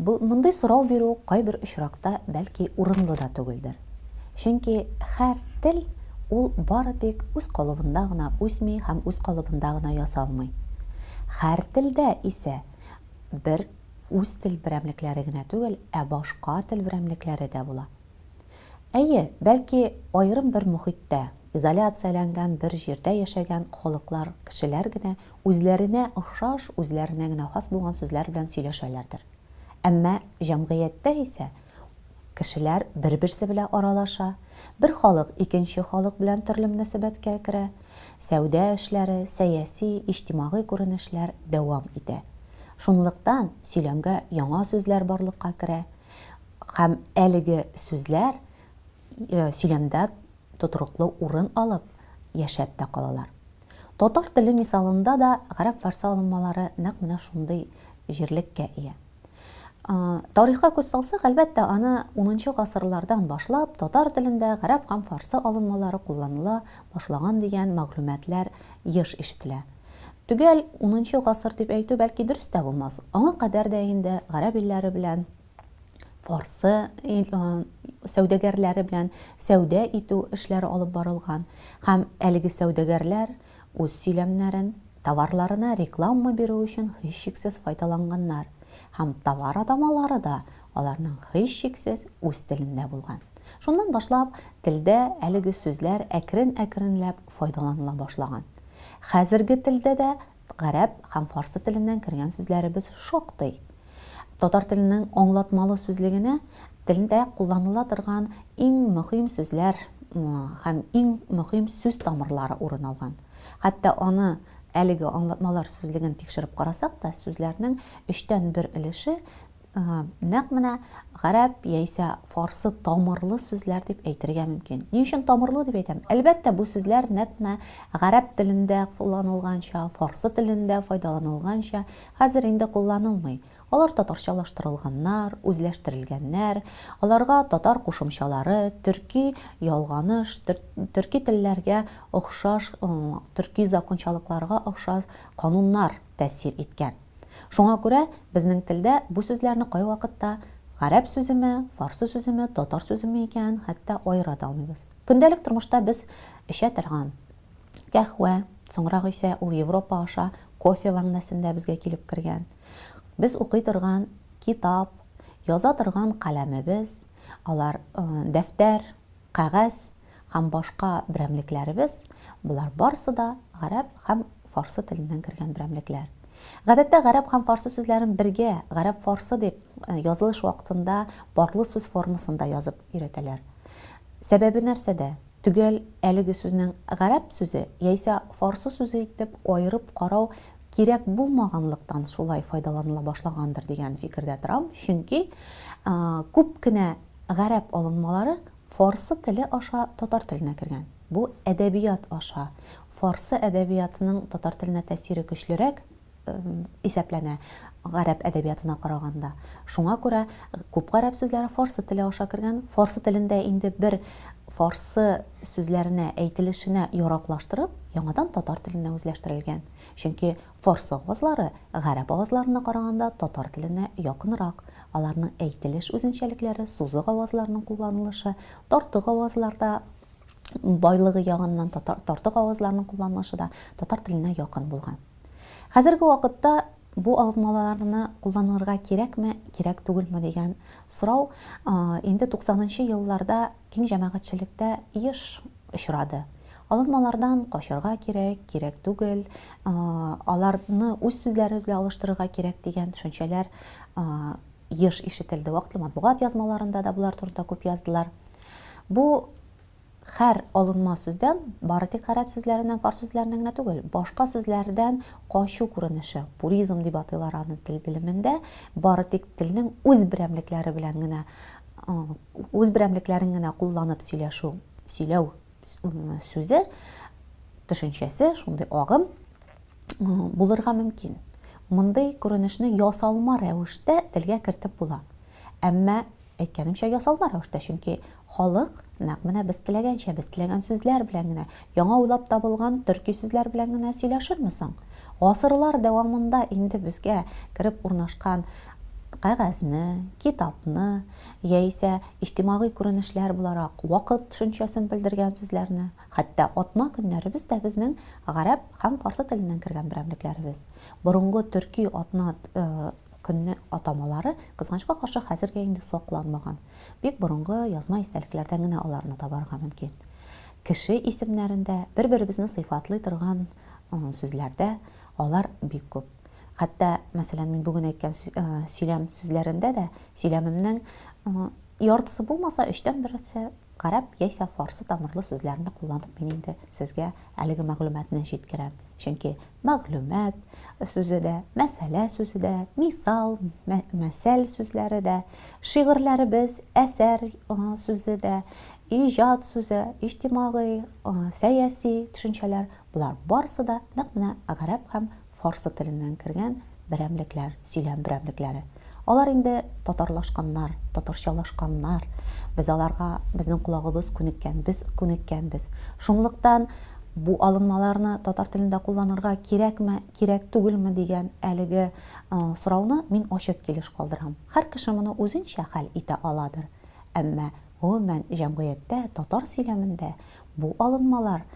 Бу мондый сорау бирү кайбер очракта бәлки урынлы да түгелдер. Чөнки һәр тел ул бары тик үз калыбында гына үсми һәм үз калыбында гына ясалмый. Һәр телдә исә бер үз тел берәмлекләре генә түгел, ә башка тел берәмлекләре дә була. Әйе, бәлки, аерым бер мохиттә, изоляцияләнгән бер җирдә яшәгән халыклар, кешеләр генә үзләренә охшаш, үзләренә генә хас булган сүзләр белән сөйләшәләрдер. Әмма җәмгыятьтә исә кешеләр бер-берсе белә аралаша, бер халык икенче халык белән төрле мөнәсәбәткә керә, сәүдә эшләре, сәяси, иҗтимагый күренешләр дәвам итә. Шунлыктан сөйләмгә яңа сүзләр барлыкка керә. Һәм әлеге сүзләр сөйләмдә тотрыклы урын алып, яшәп тә калалар. Татар теле мисалында да гарәп-фарсы алынмалары нәкъ менә шундый җирлеккә ия. Тарихка күз салсак, әлбәттә, аны унынчы гасырлардан башлап татар телендә гарәп һәм фарсы алынмалары кулланыла башлаган дигән мәгълүматлар еш ишетелә. Төгәл унынчы гасыр дип әйтү, бәлки, дөрес тә булмас, аңа кадәр дә инде гарәп илләре белән фарсы сәүдәгәрләре белән сәүдә итү эшләре алып барылган һәм әлеге сәүдәгәрләр үз сөйләмнәрен товарларына реклама бирү өчен һичшиксез файдаланганнар һәм товар атамалары да аларның һичшиксез үз телендә булган. Шуннан башлап телдә әлеге сүзләр әкрен-әкренләп файдаланыла башлаган. Хәзерге телдә дә Гарәп һәм фарсы теленнән кергән сүзләребез шактый. Татар теленең аңлатмалы сүзлегенә телдә кулланыла торган иң мөһим сүзләр һәм иң мөһим сүз тамырлары урын алган. Хәтта аны, әлеге аңлатмалар сүзлеген тикшереп карасак та, сүзләрнең өчтән бер өлеше Нәкъ менә гарәп яисә фарсы тамырлы сүзләр дип әйтергә мөмкин. Ни өчен тамырлы дип әйтәм? Әлбәттә, бу сүзләр нәкъ менә гарәп телендә кулланылганча, фарсы телендә файдаланылганча хәзер инде кулланылмый. Алар татарчалаштырылганнар, үзләштерелгәннәр, аларга татар кушымчалары, төрки ялганыш, төрки телләргә охшаш, төрки закончалыкларга охшас кануннар тәэсир иткән. Шуңа күрә безнең телдә бу сүзләрне кайвакытта гарәп сүземе, фарсы сүземе, татар сүземе икәнен хәтта аера да алмыйбыз. Көндәлек тормышта без эчә торган кәхвә, соңрак исә ул Европа аша кофе мәгънәсендә безгә килеп кергән, без укый торган китап, яза торган каләмебез, алар дәфтәр, кәгазь һәм башка берәмлекләребез, болар барысы да гарәп һәм фарсы теленнән кергән берәмлекләр. Гадәттә гарәп һәм фарсы сүзләрен бергә, гарәп-фарсы дип, язылыш вакытында парлы сүз формасында язып өйрәтәләр. Сәбәбе нәрсәдә? Төгәл әлеге сүзнең гарәп сүзе яисә фарсы сүзе итеп аерып карау кирәк булмаганлыктан шулай файдаланыла башлагандыр дигән фикердә торам, чөнки күп кенә Гарәп алынмалары фарсы теле аша татар теленә кергән. Бу әдәбият аша фарсы әдәбиятының татар теленә тәэсире көчлерәк исәпләнә гарәп әдәбиятына караганда. Шуңа күрә күп гарәп сүзләре фарсы теле аша кергән. Фарсы телен дә инде бер фарсы сүзләренә, әйтелешенә яраклаштырып, яңадан татар теленә үзләштерелгән. Чөнки Фарсы авазлары гарәп авазларына караганда татар теленә якынрак, аларның әйтелеш үзенчәлекләре, сузык авазларның кулланылышы, тартык авазларда байлыгы ягыннан татар тартык авазларның кулланылышы да татар теленә якын булган. Хәзерге вакытта бу алмаларны кулланырга кирәкме, кирәк түгелме дигән сорау инде туксанынчы елларда киң җәмәгатьчелектә еш очрады. Алынмалардан качарга кирәк, кирәк түгел, аларны үз сүзләребез белән алыштырырга кирәк дигән төшенчәләр еш ишетелде. Вакытлы матбугат язмаларында да болар турында күп яздылар. Бу хәр алынма сүздән, бары тик гарәп сүзләреннән, фарс сүзләреннән генә түгел, башка сүзләрдән качу күренеше, пуризм дип атыйлар аны тел белемендә, бары тик телнең үз берәмлекләре белән генә үз берәмлекләрен генә кулланып сөйләшү, сөйләү сүзе, төшенчәсе, шундый агым булырга мөмкин. Мондый күренешне ясалма рәвештә телгә кертеп була. Әмма әйткәнемчә ясалма рәвештә, чөнки халык нәкъ менә без теләгәнчә, без теләгән сүзләр белән генә Яңа уйлап табылган төрки сүзләр белән генә сөйләшерме соң? Гасырлар дәвамында инде безгә кереп урнашкан кәгазьне, китапны, яисә иҗтимагый күренешләр буларак вакыт төшенчәсен белдергән сүзләрне, хәтта атна көннәребез дә безнең гарәп һәм фарсы теленнән кергән берәмлекләребез. Борынгы төрки атна көнне атамалары, кызганычка каршы, хәзергә инде сакланмаган. Бик борынгы язма истәлекләрдән генә аларны табарга мөмкин. Кеше исемнәрендә, бер-беребезне сыйфатлый торган сүзләрдә алар бик күп. Хәтта, мәсәлән, мин бүген әйткән сөйләм сүзләрендә дә сөйләмемнең яртысы булмаса, өчтән берсе гарәп яисә фарсы тамырлы сүзләрне кулланып мин инде сезгә әлеге мәгълүматны җиткерәм. Чөнки мәгълүмат сүзе дә, мәсьәлә сүзе дә, мисал, мәсәл сүзләре дә, шигырьләребез, әсәр сүзе дә, Иҗат сүзе, иҗтимагый, сәяси төшенчәләр, болар барысы да нәкъ менә гарәп һәм фарсы теленнән кергән берәмлекләр, сөйләм берәмлекләре. Алар инде татарлашканнар, татарчалашканнар. Без аларга, безнең колагыбыз күнеккән, без күнеккәнбез. Шунлыктан бу алынмаларны татар телендә кулланырга кирәкме, кирәк түгелме дигән әлеге сорауны мин ачык килеш калдырам. Һәр кеше моны үзенчә хәл итә аладыр. Әмма Гомумән, җәмгыятьтә, татар сөйләмендә бу алынмалар,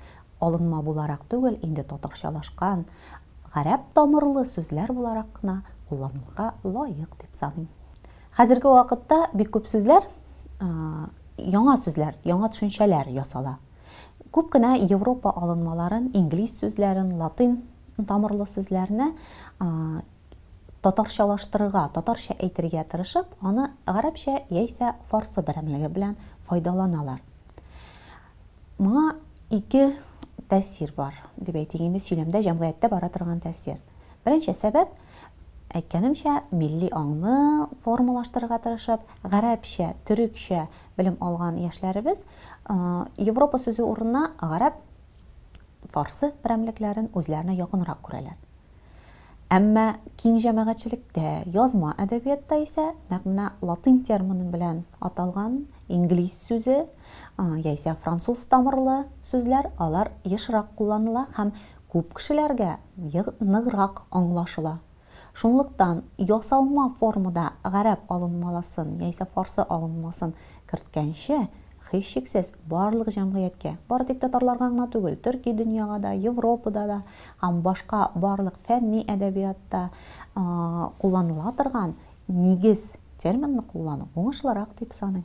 алынма буларак түгел, инде татарчалашкан, гарәп тамырлы сүзләр буларак кына кулланылырга лаек дип саныйм. Хәзерге вакытта бик күп сүзләр, яңа сүзләр, яңа төшенчәләр ясала. Күп кенә Европа алынмаларын, инглиз сүзләрен, латин тамырлы сүзләрне татарчалаштырырга, татарча әйтергә тырышып, аны гарәпчә яисә фарсы берәмлеге белән файдаланалар. Моңа ике тәэсир бар, дип әйтик инде, сөйләмдә, җәмгыятьтә бара торган тәэсир. Беренче сәбәп, әйткәнемчә, милли аңны формалаштырырга тырышып, гарәпчә, төрекчә белем алган яшьләребез Европа сүзе урынына гарәп, фарсы берәмлекләрен үзләренә якынрак күрәләр. Әмма киң җәмәгатьчелектә, язма әдәбиятта исә нәкъ менә латин термины белән аталган инглиз сүзе яисә француз тамырлы сүзләр, алар ешрак кулланыла һәм күп кешеләргә ныграк аңлашыла. Шунлыктан ясалма формада гарәп алынмаласын яисә фарсы алынмасын керткәнче, Һичшиксез, барлык җәмгыятькә, бары тик татарларга гына түгел, төрки дөньяга да, Европада да һәм башка барлык фәнни әдәбиятта кулланыла торган нигез терминны куллану уңышлырак дип саныйм.